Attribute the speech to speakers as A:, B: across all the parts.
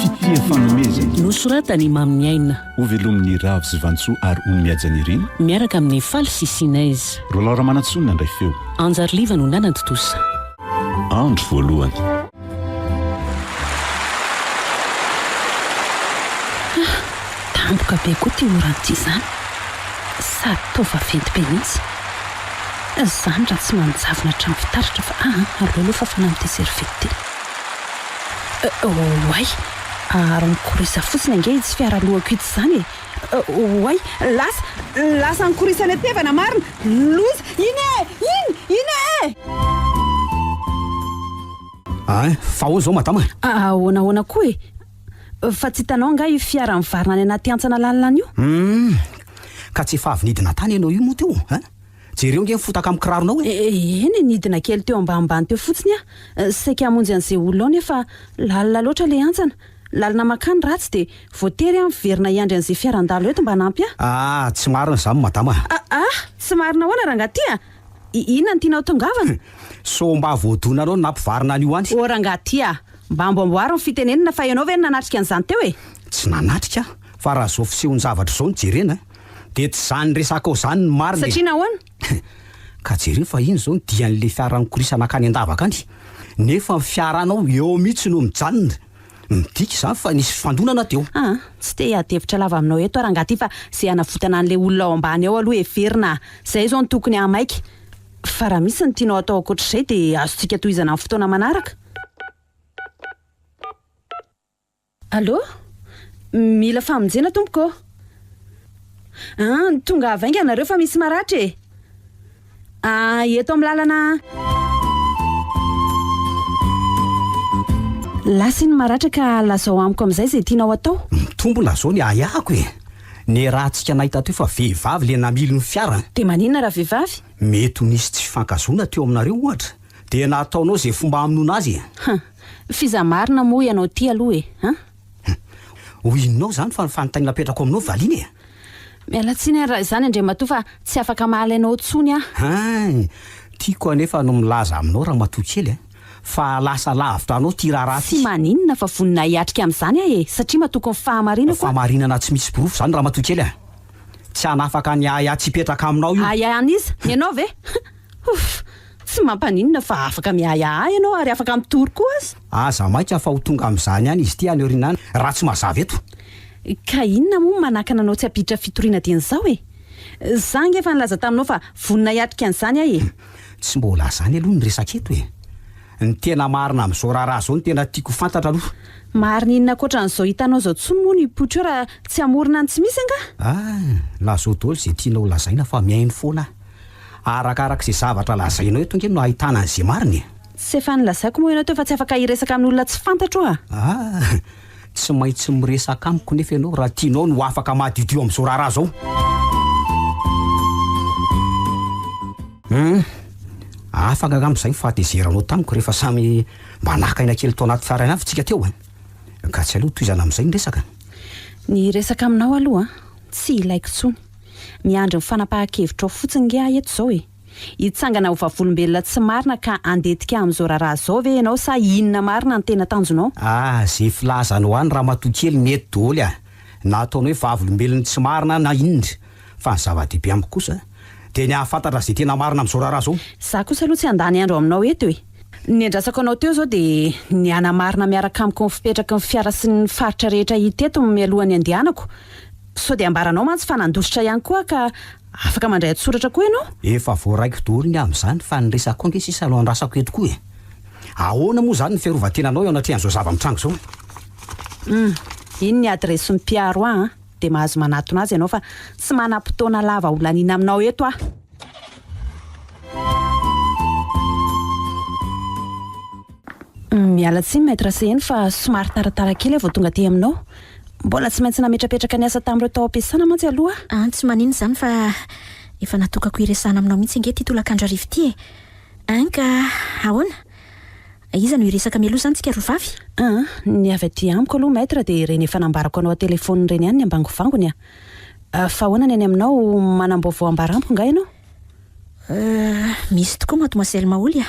A: Fitia fanomezana. Nosoratan'i i
B: Mamy Niaina. Ho velomin'i Ravo
A: sy Vantsoa ary ho mihaja nirina. Miaraka amin'i Faly
B: sy Sinez. Roland Ramanantsoa no
A: nandray feo. Anja Riliva no
B: nanantontosa. Andro
A: voalohany. Hah!
B: Tampoka be koa ity oran'ity izany. Sady toa vaventy be mihitsy. Zany raha tsy manjavona hatramin'ny fitaratra fa aa aleo aloha fafana amin'ity serviette ity eh oay! Aharo ny korisa fotsiny ange itsy fiara alohako itsy zany e! Oay! Lasa! Lasa ny korisa netevana marina! Loza! Iny e! Iny! Iny e! Ein!
C: Fa ahoana izao madama e? Ahoana ahoana koa
B: e? Fa tsy hitanao angaha io fiara mivarina any anaty hantsana lalina any io? Humm!
C: Ka tsy efa avy nidina tany ianao io moa teo an! Jereo nge ny fotaka amin'ny kiraronao e! Eny e, nidina
B: kely teo ambanimbany teo fotsiny aho, saika hamonjy an'izay olona ao nefa lalina loatra ilay hantsana, lalina mankany raha tsy dia voatery aho miverina hiandry an'izay fiaran-dalo eto mba hanampy ahy. Ah! Tsy marina
C: izany madama a! Aah! Tsy marina
B: ahoana rangahy ty a! Inona no tianao tongavana? Sao mba
C: voadonanao ny nampivarina an'io any? Oh rangahy ty a!
B: Mba amboamboaro ny fitenenana fa ianao ve no nanatrika an'izany teo e? Tsy nanatrika
C: aho, fa raha izao fisehon-javatra izao no jerena dia tsy izany resakao izany no marina e! Satria nahoana?
B: Ka jereo
C: fa iny izao ny dian'ilay fiara nikorisana hankany an-davaka any, nefa ny fiaranao eo mihitsy no mijanona. Midika izany fa nisy fifandonana teo. Aa, tsy te hiady-hevitra
B: lava aminao eto aho rangahy ity fa izay hanavotana an'ilay olona ao ambany ao aloha heverina a! Izay izao no tokony hahamaika. Fa raha misy ny tianao atao ankoatr'izay dia azontsika tohizana amin'ny fotoana manaraka. Allo? Mila famonjena tompoko ô. An, tongava ainga nareo fa misy maratra e. An, eto amin'ny lalana an. Lasa iny maratra ka lazao amiko amin'izay izay tianao atao. Mitombona izao ny
C: ahiahiko e. Niarahantsika nahay tatoy fa vehivavy ilay namily ny fiarany. Dia maninona raha vehivavy?
B: Mety ho nisy tsy
C: fifankahazoana teo aminareo ohatra dia nataonao izay fomba hamonoana azy e! Huh! F'iza
B: marina moa ianao ity aloha e! Huh! Huh!
C: Ho inonao izany fa ny fanontaniana apetrako aminao valiana e! Miala tsiny
B: ary raha izany Andriamatoa fa tsy afaka mahalaina ao intsony aho. Hein!
C: Tiako anefa ny milaza aminao Ramatoa kely e! fa lasa lavitra anao ty raharaha ty. Tsy maninona fa
B: voninah hiatrika amin'izany aho e! Satria matoky ny fahamarinako aho. Fahamarinana tsy misy porofo
C: izany ramatoa kely a! Tsy hanafaka ny ahiahy tsy hipetraka aminao io. Ahiahy an'iza? Ny anao ve?
B: Huff! Tsy mampaninona fa afaka miahiahy ahy ianao ary afaka mitory koa aza. Aza maika fa
C: ho tonga amin'izany ihany izy ity any aoriana any raha tsy mazava eto. Ka
B: inona moa no manakana anao tsy hampiditra fitoriana dieny izao e? Za ange efa nilaza taminao fa vonona hiatrika an'izany aho e! Tsy mbola
C: zany aloha ny resaka eto e! Ny tena marina amin'izao raharaha izao no tena tiako ho fantatra aloha. Marina inona
B: ankoatran'izao hitanao izao tsony moa ny putsch eo raha tsy hamorona ny tsy misy angaha? Ah! Lazao
C: daholo izay tianao lazaina fa mihaino foana aho. Arakaraka izay zavatra lazainao eto ange no ahitana an'izay marina e! Tsy efa nilazaiko
B: moa ianao teo fa tsy afaka hiresaka amin'olona tsy fantatro oa! Ah!
C: Tsy maintsy miresaka amiko nefa ianao raha tianao ny ho afaka madiodio amin'izao raharaha izao. Humm. Afaka angamba izay ny fahatezeranao tamiko rehefa samy mba naka aina kely tao anaty fiara ihany avy isika teo an! Ka tsy aleo tohizana amin'izay ny resaka. Ny
B: resaka aminao aloha an, tsy ilaiko intsony. Miandry ny fanapahan-kevitrao fotsiny nge aho eto izao e! Hitsangana ho vavolombelona tsy marina ka handetika amin'izao raharaha izao ve ianao sa inona marina no tena tanjonao? Ah, ze filazanao
C: any ramatoa kely mety doly ah, na ataonao hoe vavolombelon'ny tsy marina na inona, fa ny zava-dehibe amiko kosa dia ny hahafantatra ze tena marina amin'izao raharaha izao. Za kosa aloha tsy handany
B: andro aminao eto e! Ny andrasako anao teo izao dia ny hanamarina miaraka amiko ny fipetraky ny fiara sy ny faritra rehetra hita eto mialohan'ny handehanako, sao dia ambaranao mantsy fa nandositra ihany koa aho ka Afaka mandray an-tsoratra koa ianao. Efa voaraiko daholo
C: ny amin'izany fa ny resako ange sisa no andrasako eto koa e. Ahoana moa izany ny fiarovan-tenanao eo anatrehan'izao zava-mitranga izao an? Hum,
B: iny ny adiresin'ny mpiaro ahy an, dia mahazo manatona azy ianao fa tsy manam-potoana lava holaniana aminao eto aho. Miala tsiny Maître Seheno fa somary taratara kely aho vao tonga aty aminao. Mbola tsy maintsy nametrapetraka ny asa tamin'ireo tao am-piasana mantsy aloha aho. An, tsy maninona izany fa
D: efa natokako hiresahana aminao mihitsy ange ity tolakandro hariva ity e! An, ka ahoana? Iza no hiresaka mialoha izany tsika roa vavy? An, ny avy
B: aty amiko aloha Maître dia ireny efa nambarako anao an-telefaonina ireny ihany ny ambangovangony an! Fa ahoana ny any aminao, manam-baovao ambara amiko angaha ianao? An,
D: misy tokoa Mademoiselle Maholy a!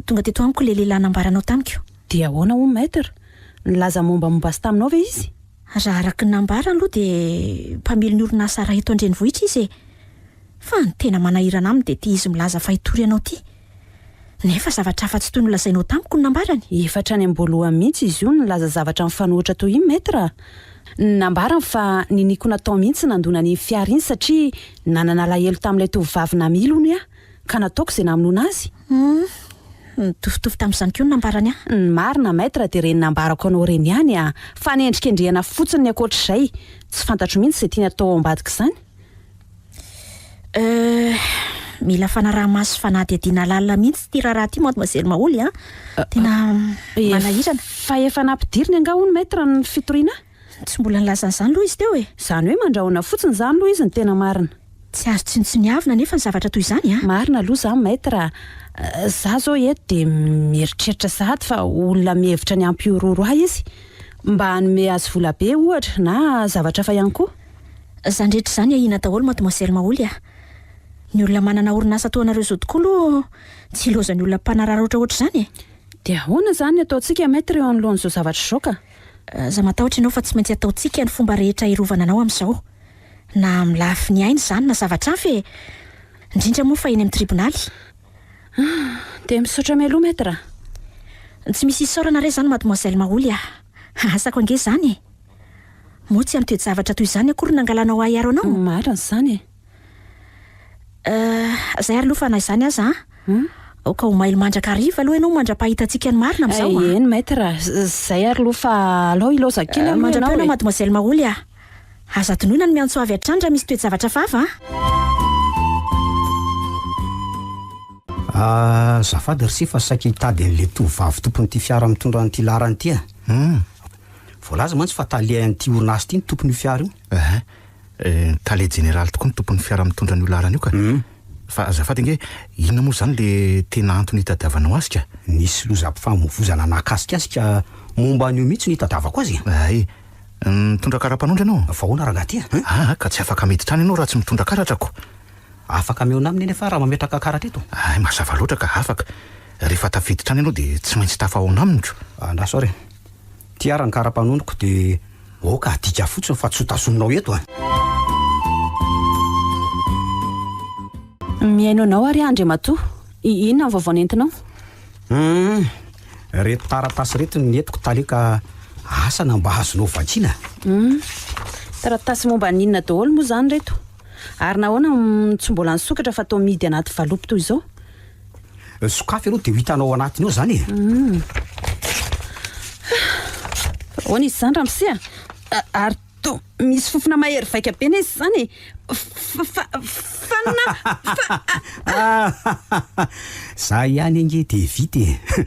D: Tonga teto amiko ilay
B: lehilahy
D: nambaranao tamiko. Dia ahoana hono Maître? Nilaza
B: mombamomba azy taminao ve izy? Raha araka ny
D: nambarany aloha dia mpamily ny orinasa iray eto an-drenivohitra izy e! Fa ny tena manahirana aminy dia ity izy milaza fa hitory anao ity. Nefa zavatra hafa tsy toy ny nolazainao tamiko no nambarany. Efa hatrany am-boalohany
B: mihitsy izy io nilaza zavatra mifanohitra toy io Maître a! Nambarany fa niniako natao mihitsy ny nandona an'iny fiara iny satria nanana alahelo tamin'ilay tovovavy namily hono aho. ka nataoko izay namonoana azy. Humm.
D: Nitovitovy tamin'izany koa ny nambarany ahy. Ny marina Maître
B: dia ireny nambarako anao ireny ihany an! Fanendrikendrehana fotsiny ny ankoatr'izay. Tsy fantatro mihitsy izay tiany atao ao ambadik'izany. Euh.
D: Mila fanaraha-maso sy fanadihadiana lalina mihitsy ity raharaha ity Mademoiselle Maholy an! Tena manahirana. Efa efa
B: nampidiriny angaha hono Maître ny fitoriana ahy? Tsy mbola nilaza
D: an'izany aloha izy teo e! Izany hoe mandrahona
B: fotsiny izany aloha izy no tena marina. Tsy azo tsinontsiniavina
D: anefa ny zavatra toy izany a! Marina aloha izany Maître
B: a! Izaho izao eto dia mieritreritra sahady fa olona mihevitra ny hampihorohoro ahy izy mba hanome azy vola be ohatra na zavatra hafa ihany koa. Izany rehetra
D: izany ahiana daholo Mademoiselle Maholy a! Ny olona manana orinasa toa anareo izao tokoa aloha tsy hilaozan'ny olona mpanararaotra ohatr'izany e! Dia ahoana
B: izany ny ataontsika Maître eo anoloan'izao zavatra izao ka? Aza matahotra
D: ianao fa tsy maintsy ataontsika ny fomba rehetra hiarovana anao amin'izao. Na amin'ny lafiny aina izany na zavatra hafa e! Indrindra moa fa eny amin'ny tribonaly.
B: Dia misaotra mialoha Maître. Tsy
D: misy isaorana re izany Mademoiselle Maholy a! Asako ange izany e! Moa tsy amin'ny toe-javatra toy izany akory nangalanao ahiaro anao? Marina izany e!
B: Eh,
D: izay ary aloha fa na izany aza an, aoka ho mailo mandrakariva aloha ianao mandra-pahita antsika ny marina amin'izao an. Eh, eny maître,
B: izay ary aloha fa alao hilaozan kely aloha ianao e. Mandra-peo ianao mademoiselle Maholy a.
D: Aza adinoina ny miantso avy hatrany raha misy toe-javatra hafahafa an. Ah,
C: azafady r'ise fa saika hitady an'ilay tovovavy tompon'ity fiara mitondra an'ity laharana ity an. Voalaza mantsy fa tale an'ity orinasa ity ny tompon'io fiara io. Tale jeneraly
E: tokoa ny tompon'ny fiara mitondra an'io laharana io ka. Fa azafady ange, inona moa izany le tena antony itadiavanao azy ka? Nisy lozam-pifamoivozana
C: nahakasikasika momba an'io mihitsy no itadiavako azy e! Hay!
E: Mitondra kara-panondro ianao? Fa ahoana rangaha ty a?
C: Aa ka tsy afaka
E: miditra any ianao raha tsy mitondra karatra ko! Afaka
C: mihaona aminy anefa aho raha mametraka karatra eto. Hay, mazava loatra ka,
E: afaka! Rehefa tafiditra any ianao dia tsy maintsy tafahaona aminy ko! Andraso ary e!
C: Ty ara ny karapanoniko de aoka adika fotsiny fa tsy ho tazominao eto a!
B: Mihaino anao ary aho Andriamatoa. Inona ny vaovao nentinao? Humm!
C: Reto taratasy reto ny nentiko tale ka asa na mba azonao vakiana? Humm!
B: Taratasy momba ny inona daholo moa izany reto? Ary nahoana no tsy mbola nisokatra fa toa mihidy anaty valopy toy izao?
C: Sokafy aloha dia ho hitanao ao anatiny ao izany e. Hmm.
B: Ahoana izy izany ramose a? Ary toa misy fofona mahery vaika be na izy izany e. Fanina!
C: Za ihany ange dia vita e.